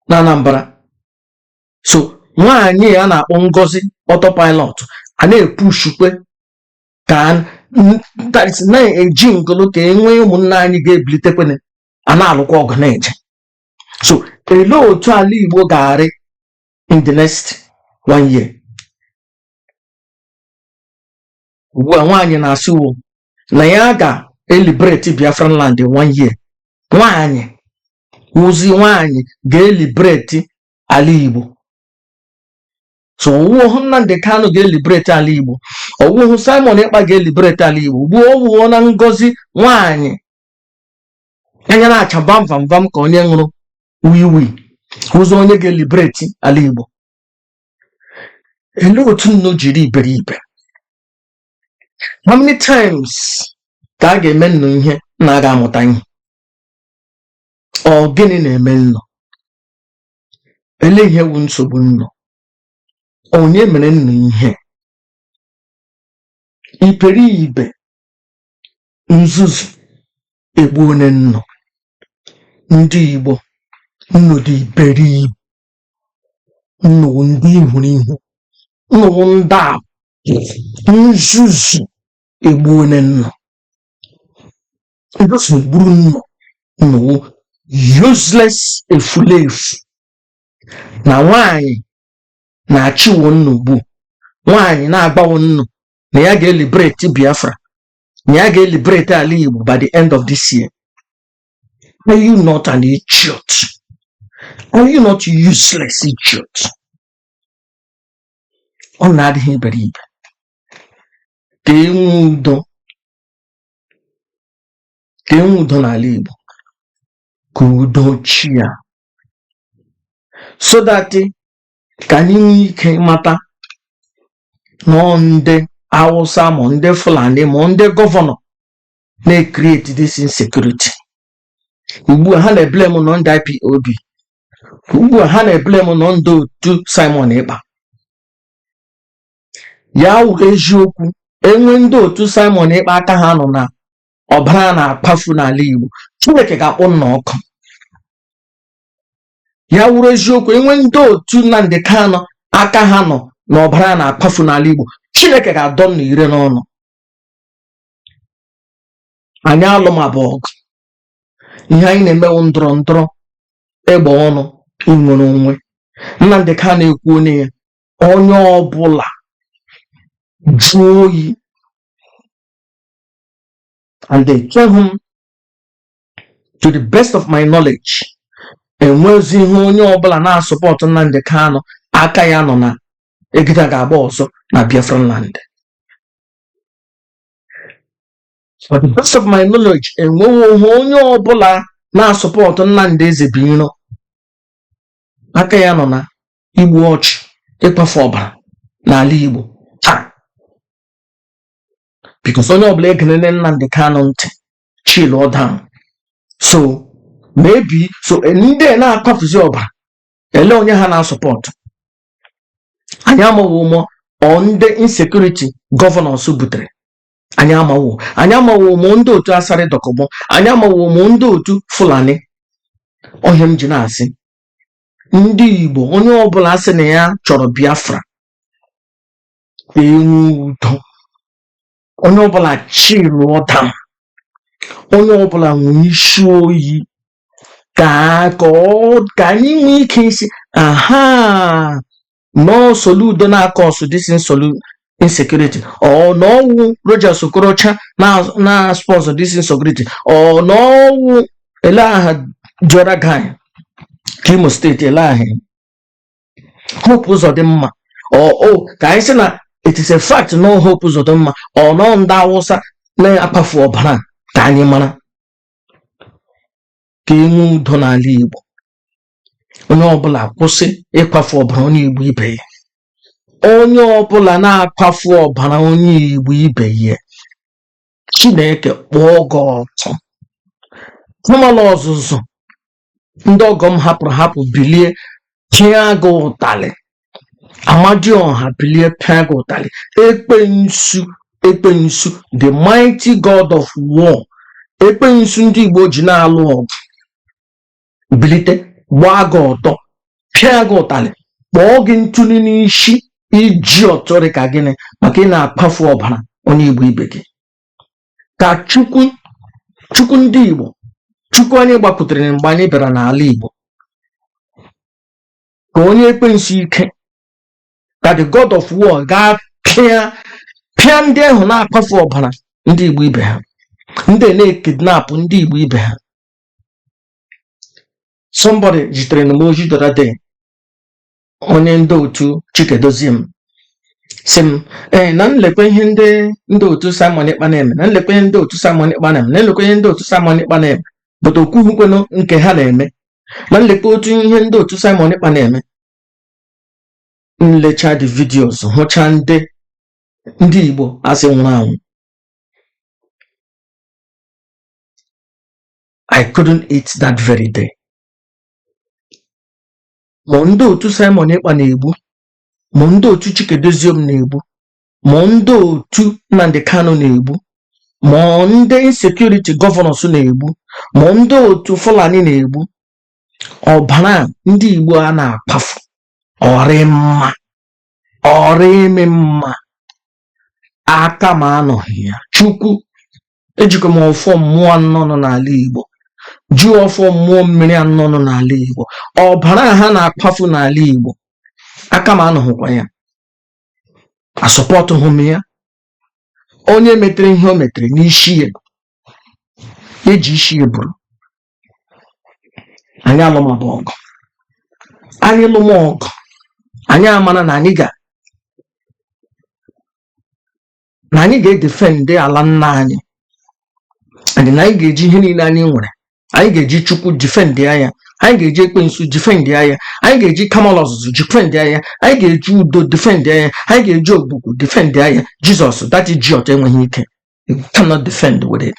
na Anambra so nwaanyị a na-akpọ Ngozi autopilot a na-epushukwe ka na-eji ngụlụ ka e nwee ụmụnna anyị ga-ebilitekwene a na-alụkwa ọgụ na-eje so elee otu ala Igbo ga-arị in the next one year ugbu a nwaanyị na-asịwo na ya ga-eliberate Biafran land one year nwaanyị ọ wụzi nwaanyị ga-eliberate ala Igbo so ọ wụhụ Nnamdi Kanu ga-eliberate ala Igbo ọ wụhụ Simon Ekpa ga-eliberate ala Igbo ugbu a ọ wụọna Ngozi nwaanyị anya na-acha vam vam vam ka onye ṅụrụ wiwi wụzi onye ga-eliberate ala Igbo Elee otu nnu jiri iberibe? How many times ka a ga-eme nnu ihe na a ga-amụta ihe? Ọ gịnị na-eme nnu? Elee ihe wụ nsogbu nnu? Onye mere nnu ihe? Iberibe nzuzu egbuone nnu. Ndị Igbo, nnu dị iberibe. nnu wụ ndị ihuru ihu nnu wụ ndị a nzuzu egbuone nnu nzuzu egburu nnu nnu wụ useless efulefu na nwaanyị na-achịwo nnu ugbu a nwaanyị na-agbawo nnu na ya ga-eliberate Biafra na ya ga-eliberate ala Igbo by the end of this year Are you not an idiot? Are you not useless idiot? Ọ na-adịghị iberibe ka e nwee udo ka e nwee udo n'ala Igbo ka udo chịa so that ka anyị nwee ike mata na ọ ndị Hausa ma ndị Fulani ma ọ ndị gọvanọ na-ecreate this insecurity ugbu a ha na-eblame na ọ ndị IPOB ugbu a ha na-eblame na ọ ndị otu Simon Ekpa ya wụrụ eziokwu e nwe ndị otu Simon Ekpa aka ha nọ na ọbara na-akwafu n'ala Igbo Chineke ga-akpọ nnu ọkụ ya wụrụ eziokwu e nwe ndị otu Nnamdi Kanu aka ha nọ na ọbara na-akwafu n'ala Igbo Chineke ga-adọ nnu ire n'ọnụ anyị alụ ma bụ ọgụ ihe anyị na-eme wụ ndọrọ ndọrọ egbe ọnụ inwere onwe Nnamdị Kanụ ekwuone ya onye ọbụla jụọ oyi and echeghị m to the best of my knowledge enwezighi onye ọbụla na-asọpọtụ Nnamdị Kanụ aka ya nọ na egbe ga-agba ọzọ na Biafra land for the best of my knowledge enweghị onye ọbụla na-asọpọtụ Nnamdi Ezebiro aka ya nọ na igbu ọchụ ịkwafu ọbara n'ala Igbo taa because onye ọbụla egelele Nnamdi Kanu ntị chịlụọ down so maybe so ndị na-akwafuzi ọbara ele onye ha na-asọpọtụ anyị amaghị ma ọ ndị insecurity governors butere anyị amaghị anyị amaghị ma ọ ndị otu asari dokubo anyị amaghị ma ọ ndị otu fulani ọ ihe m ji na-asị ndị igbo onye ọbụla sị na ya chọrọ biafra ka enwe udo onye ọbụla chịlụọ down onye ọbụla nwee isi oyi ka ka ọ- ka anyị nwee ike ịsị aha na ọ soludo na-akọọsụ this insolu insecurity or na ọ wụ Rochas Okorocha na na sponsor this insecurity or na ọ wụ ele aha the other guy ke Imo state ele aha hope ụzọdịmma or ka anyị sị na it is a fact na ọ hope ụzọdịmma or na ọ ndị awụsa na-akwafu ọbara ka anyị mara ka enwe udo n'ala igbo onye ọbụla kwụsị ịkwafu ọbara onye igbo ibe ya onye ọbụla na-akwafu ọbara onye igbo ibe ya chineke kpọọ gị ọkụ ụmụ ala ọzụzụ ndị ọgọ m hapụrụ hapụ bilie pịa gị ụtalị amadioha bilie pịa gị ụtalị ekwensu ekwensu the mighty god of war ekwensu ndị igbo ji na-alụ ọgụ bilite gbaa gị ọtọ pịa gị ụtalị kpọọ gị ntụli n'isi iji ọtọrị ka gịnị maka ị na-akwafu ọbara onye igbo ibe gị ka chukwu chukwu ndị igbo chukwu anyị gbakwutere mgbe anyị bịara n'ala igbo ka o nye ekwensu ike ka the god of war gaa pịa pịa ndị ahụ na-akwafu ọbara ndị igbo ibe ha ndị na-ekidnapụ ndị igbo ibe ha somebody zitere na m ozi the other day onye ndị otu Chika Edoziem sị m ee na nlekwa ihe ndị ndị otu Simon Ekpa na-eme na nlekwa ihe ndị otu Simon Ekpa na-eme na nlekwa ihe ndị otu Simon Ekpa na-eme but o kwuhukwenụ nke ha na-eme na nlekwa otu ihe ndị otu Simon Ekpa na-eme nlecha the videos hụcha ndị ndị Igbo a sị nwụrụ anwụ I couldn't eat that very day. ma ndị otu Simon Ekpa na-egbu ma ndị otu Chika Edoziem na-egbu ma ndị otu Nnamdi Kanu na-egbu ma ndị insecurity governors na-egbu ma ndị otu Fulani na-egbu ọbara ndị Igbo a na-akwafu ọ rị mma ọ rịghị m mma aka m anọghị ya chukwu ejikwa m ọfọ mmụọ anọ nọ n'ala igbo ji ọfọ mmụọ mmiri anọ nọ n'ala igbo ọbara ha na-akwafu n'ala igbo aka m anọghịkwa ya asupportughị m ya onye metere ihe o metere n'isi ya eji isi ya buru anyị alụmabụ ọgụ anyị lụma ọgụ anyị amara na anyị ga na anyị ga-edefend ala nna anyị and na anyị ga-eji ihe niile anyị nwere anyị ga-eji Chukwu defendịa ya anyị ga-eji Ekwensu defendịa ya anyị ga-eji Kamalụ Ọzụzụ defendịa ya anyị ga-eji Udo defendịa ya anyị ga-eji Ogwugwu defendịa ya Jesus that church enweghị ike you cannot defend with it